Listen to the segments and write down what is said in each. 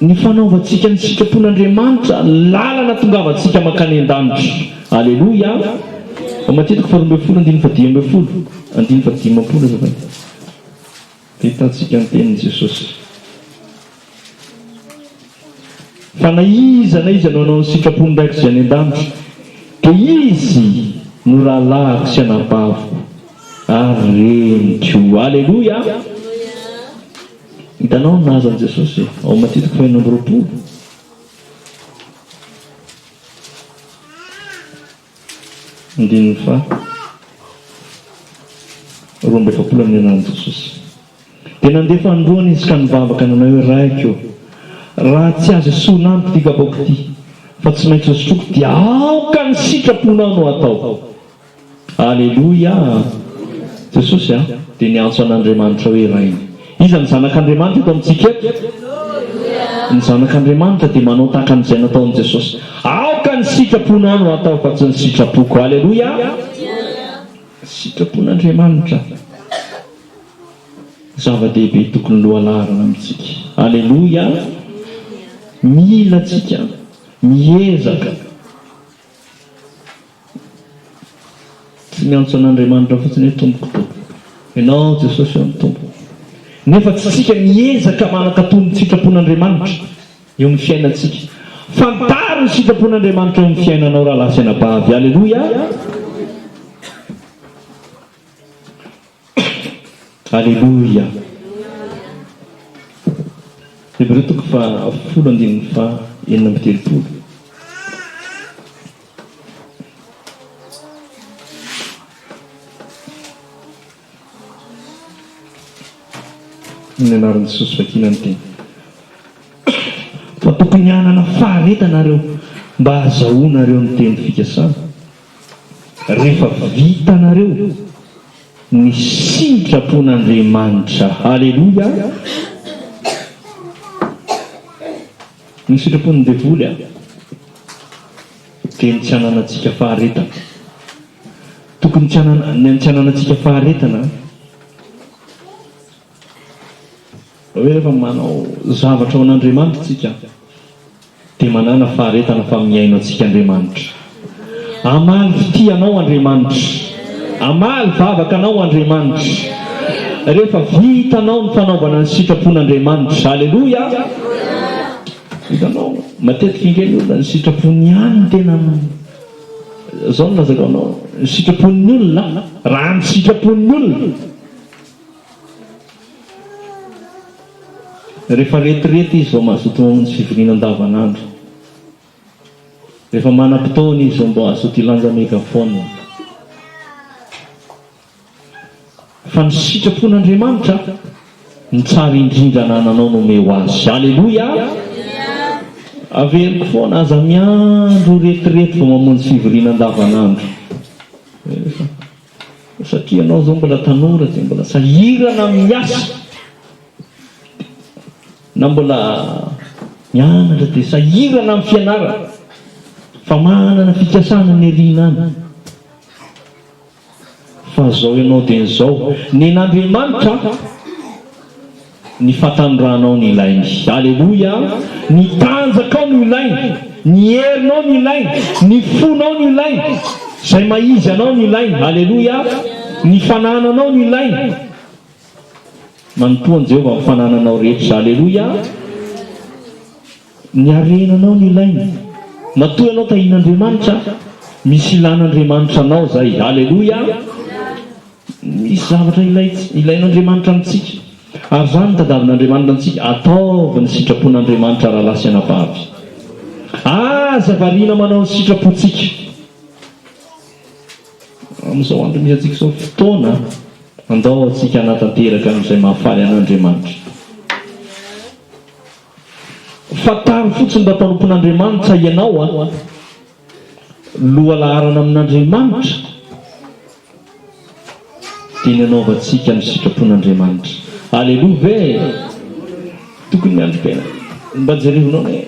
Ny fanaovantsika ny sitrapon'Andriamanitra lalana tongavantsika mankany an-danitra. Aleloia! Matetika faharoa ambin'ny folo andininy fahadimy ambin'ny folo, andininy fahadimampolo azafady, dia hitantsika ny tenin'i Jesosy. Fa na iza na iza no hanao ny sitrapon'ny Raiko izay any an-danitra, dia izy no rahalahiko sy anabaviko ary reniko. Aleloia! Hitanao ny nahazo an'i Jesosy ao Matia toko fahenina amby roapolo. Andininy faha roa amby efapolo amin'ny anaran'i Jesosy. Dia nandefa ny roany izy ka nivavaka nanao hoe, Raiko ô, raha tsy azo esorina amiko ity kapaoko ity, fa tsy maintsy hosotroiko, dia aoka ny sitraponao no hatao. Aleloia a! Jesosy a! dia niantso an'Andriamanitra hoe Rainy. Iza no zanak'Andriamanitra eto amintsika eto? Ny zanak'Andriamanitra dia manao tahaka an'izay nataon'i Jesosy. Aoka ny sitraponao no hatao fa tsy ny sitrapoko. Aleloia a! Sitrapon'Andriamanitra zava-dehibe tokony lohalarana amintsika. Aleloia a! Mila antsika miezaka. Tsy miantso an'Andriamanitra fotsiny hoe Tompoko, Tompoko. Ianao aho Jesosy aho no Tompoko. Nefa tsy isika miezaka manankato ny sitrapon'Andriamanitra eo amin'ny fiainantsika. Fantaro ny sitrapon'Andriamanitra eo amin'ny fiainanao rahalahy sy anabavy. Aleloia! Aleloia! Hebreo toko fahafolo andininy faha enina amby telopolo. Ny anaran'i Jesosy vakina ny teny. Fa tokony hanana faharetanareo mba hazahoanareo ny teny fikasana. Rehefa vitanareo ny sitrapon'Andriamanitra, Aleloia, ny sitrapon'ny devoly dia ny tsy hananantsika faharetana. Tokony ny tsy hananantsika faharetana. Rehefa manao zavatra ho an'Andriamanitra isika dia manana faharetana fa mihaino antsika Andriamanitra. Hamaly fitia anao Andriamanitra. Hamaly vavaka anao Andriamanitra. Rehefa vitanao ny fanaovana ny sitrapon'Andriamanitra. Aleloia! Hitanao, matetika ange ny olona ny sitrapony ihany no tena, izao no lazaiko aminao, ny sitrapon'ny olona, raha ny sitrapon'ny olona. Rehefa retirety izy vao mazoto mamonjy fivoriana andavanandro. Rehefa manam-potoana izy vao mba hazoto hilanja megaphone. Fa ny sitrapon'Andriamanitra no tsara indrindra anananao no omeo azy. Aleloia! Averiko foana, aza miandry ho retirety vao mamonjy fivoriana andavanandro. Satria ianao izao mbola tanora dia mbola sahirana miasa na mbola mianatra dia sahirana amin'ny fianarana fa manana fikasana ny aoriana any fa izao ianao dieny izao nen'Andriamanitra Ny fatanorànao no ilainy. Aleloia! Ny tanjakao no ilainy. Ny herinao no ilainy. Ny fonao no ilainy. Izay maha-izy anao no ilainy. Aleloia! Ny fanananao no ilainy. Manompoa an'i Jehovah amin'ny fanananao rehetra. Aleloia! Ny harena anao no ilainy. Matoa ianao tahin'Andriamanitra, misy ilan'Andriamanitra anao zay. Aleloia! Misy zavatra ilaintsika, ilain'Andriamanitra amintsika. Ary zany no tadavin'Andriamanitra antsika, ataovy ny sitrapon'Andriamanitra rahalahy sy anabavy. Aza variana manao ny sitrapontsika. Amin'izao andro misy antsika izao, fotoana andao antsika hanatanteraka an'izay mahafaly an'Andriamanitra. Fantaro fotsiny raha mpanompon'Andriamanitra ianao a! Lohalaharana amin'Andriamanitra dia ny hanaovantsika ny sitrapon'Andriamanitra. Aleloa ve e! Tokony miandry-tena. Mba jereo noana e!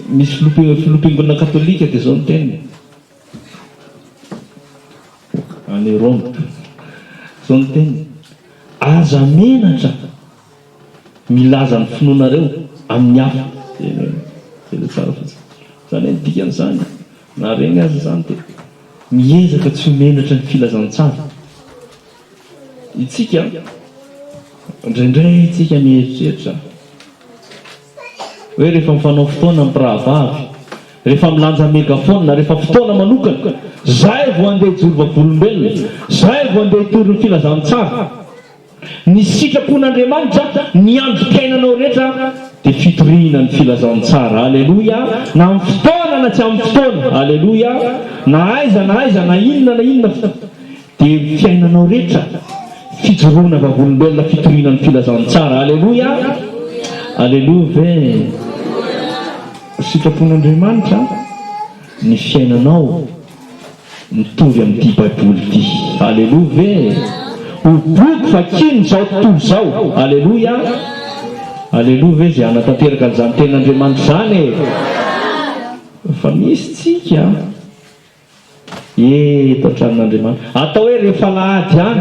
Misy filoham-, filoham-piangonana katolika dia izao ny teniny. Any Roma. Izao ny teniny, Aza menatra. milaza ny finoanareo amin'ny hafa. Tena tena tsara fotsiny. Zany ny dikan'izany. Na regny aza zany de miezaka tsy ho menatra ny filazantsara. Itsika indraindray itsika mieritreritra hoe rehefa mifanao fotoana ny mpirahavavy, rehefa milanja megaphone, rehefa fotoana manokana, zay vao handeha hijoro vavolombelona, zay vao handeha hitory ny filazantsara. Ny sitrapon'Andriamanitra ny androm-piainanao rehetra dia fitoriana ny filazantsara, aleloia, na amin'ny fotoana na tsy amin'ny fotoana, aleloia, na aiza na aiza na inona na inona fa dia fiainanao rehetra fijoroana vavolombelona fitoriana ny filazantsara, aleloia, aleloa ve? Sitrapon'Andriamanitra ny fiainanao. Mitovy amin'ity baiboly ity. Aleloa ve? Ho boky vakino izao tontolo izao. Aleloia! Aleloa ve izay hanatanteraka an'izany Tenin'Andriamanitra izany e? Fa misy tsika eto an-tranon'Andriamanitra atao hoe rehefa alahady ihany.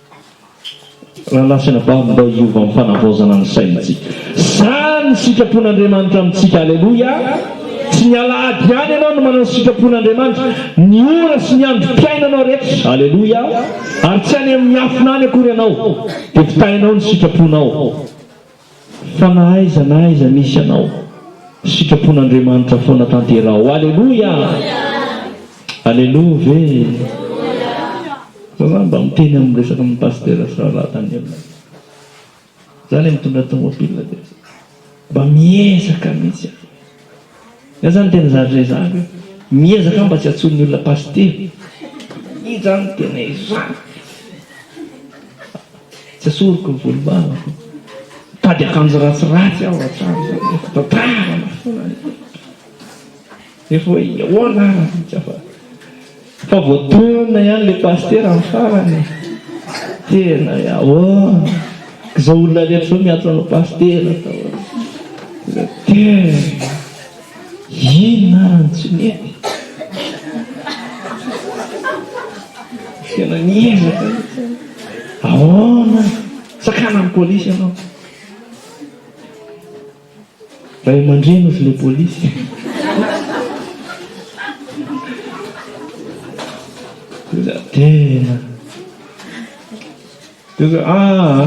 Ranafiana ba mba hiova am fanavaozana ny saintsika. Zany ny sitrapon Andriamanitra amintsika Aleloia Tsy ny alahady ihany ianao no manao ny sitrapon Andriamanitra, ny ora sy ny andro piainanao rehetra Aleloia Ary tsy any amin miafina any akory ianao dia fitahinao ny sitraponao. Fa na aiza na aiza misy anao, sitrapon'Andriamanitra foana tanteraho. Aleloia! Aleloa ve? Raha mba miteny amin'ny resaka amin'ny Pasitera sy Rahalahy Daniel ianao. Za le mitondra tomobile de mba miezaka mihitsy aho. Zany tena zany rezahako io. Miezaka mba tsy atsoin'ny olona pasitera. Iny zany tena ezahiko. Tsy asoriko ny volom-bavako. Mitady akanjo ratsiratsy aho hatrany zany hoe fitantara na foana. Nefa hoe ahoana ary tsy afaka. Fa voadona ihany le pasitera am farany e! Tena e! Ahoana izao olona rehetra izao miantso anao pasitera ka hoe le tena inona ary no tsy mety e! Tena miezaka mihitsy e! Ahoana ary! Sakana am polisy ianao! Ray aman-dreny ozy le polisy. Tena tena. Tena ah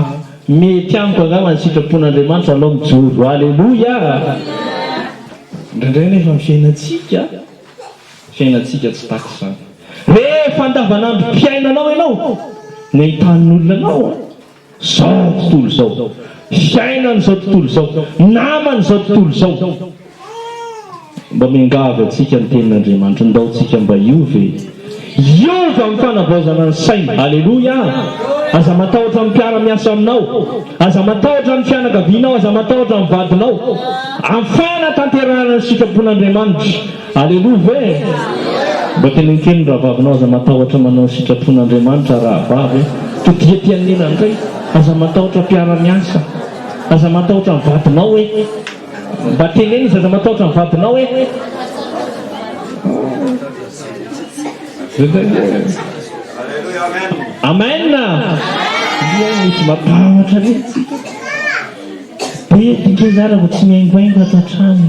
mety amiko angamba ny sitrapon'Andriamanitra alao mijoro. Aleloia. Indraindray nefa ny fiainantsika fiainantsika tsy takitra izany. Rehefa andavanandrom-piainanao ianao no ahitàn'olona anao a. Zao ny tontolo zao. Fiainana izao tontolo izao. Namana izao tontolo izao. Mba miangavy antsika ny tenin'Andriamanitra, ndao tsika mba hiova e. Hiova amin'ny fanavaozana ny saina. Aleloia. Aza matahotra ny mpiara-miasa aminao. Aza matahotra ny fianakavianao. Aza matahotra ny vadinao. Afana tanterahina ny sitrapon'Andriamanitra. Aleloa ve? Mba tenenkeho ny rahavavinao aza matahotra manao ny sitrapon' Andriamanitra rahavavy a! Todiha aty anilany indray, aza matahotra mpiara-miasa, aza matahotra ny vadinao hoe, mba teneno izy aza matahotra ny vadinao hoe, Amen a! Dia misy matahotra mihitsy. Be dikeza ary vao tsy mihaingohaingo ato an-trano.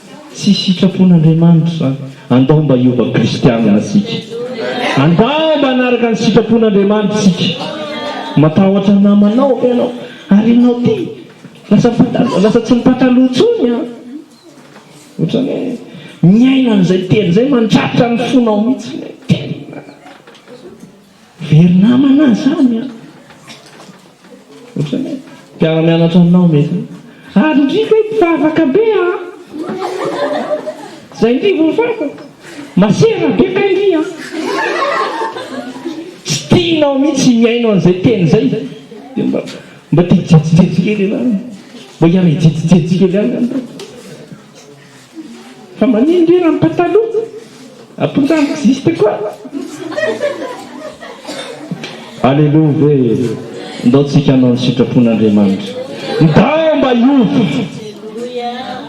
Tsy sitrapon'Andriamanitra izany. Andao mba hiova kristianina isika. Andao mba hanaraka ny sitrapon'Andriamanitra isika. Matahotra ny namanao ve ianao? Ary ianao ity lasa mpataloha, lasa tsy mipataloha intsony an! Ohatran'ny hoe miaina an'izay teny izay mandratra ny fonao mihitsy ilay teny. Very namana aho zany an! Ohatran'ny hoe mpiara-mianatra aminao mety. Ary indry ve mpivavaka be an! Zay indry vao fantako. Masera be kay indry an! Tsy tianao mihitsy mihaino an'izay teny izay. Dia mba mba te hijejijejy kely ianao. Mba hiara-hijejijejy kely ihany ianao. Fa manino ndry raha ny pataloha aponga amiko zista koa. Aleloa ve e! Ndao tsika hanao ny sitrapon' Andriamanitra. Ndao mba hiova.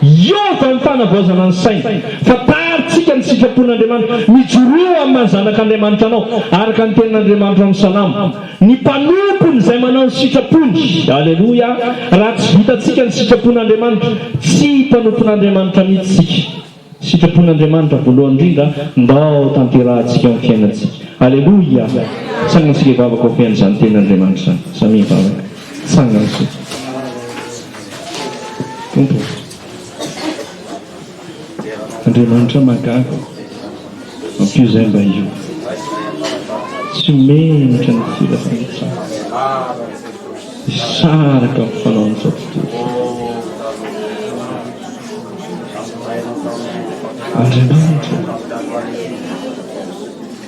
Hiova ny fanavaozana ny saina. Fa tary tsika ny sitrapon' Andriamanitra. Mijoroa amin'ny maha zanak' Andriamanitra anao, araka ny tenin' Andriamanitra ao amin'ny Salamo. Ny mpanompony izay manao ny sitrapony. Aleloia! Raha tsy vitantsika ny sitrapon'Andriamanitra, tsy mpanompon'Andriamanitra mihitsy isika. Sitrapon'Andriamanitra voalohany indrindra, ndao tanterahantsika amin'ny fiainantsika. Aleloia! Tsangana isika hivavaka ho fihain'izany tenin'Andriamanitra izany. Samia hivavaka. Tsangana isika. Tompo ô. Andriamanitra mahagaga, ampio zay mba io. Tsy menatra ny firafiratsaha, hisaraka amin'ny fanaon'ny fampitologna. Andriamanitra ô!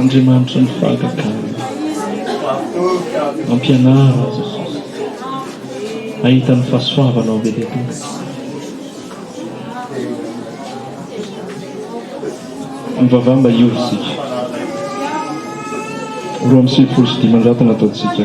Andriamanitry ny fahagagana ampianaro azy Jesosy hahita ny fahasoavanao be dia be. Mivavaha mba hiova isika. Roa amby sivifolo sy dimanjato no ataontsika.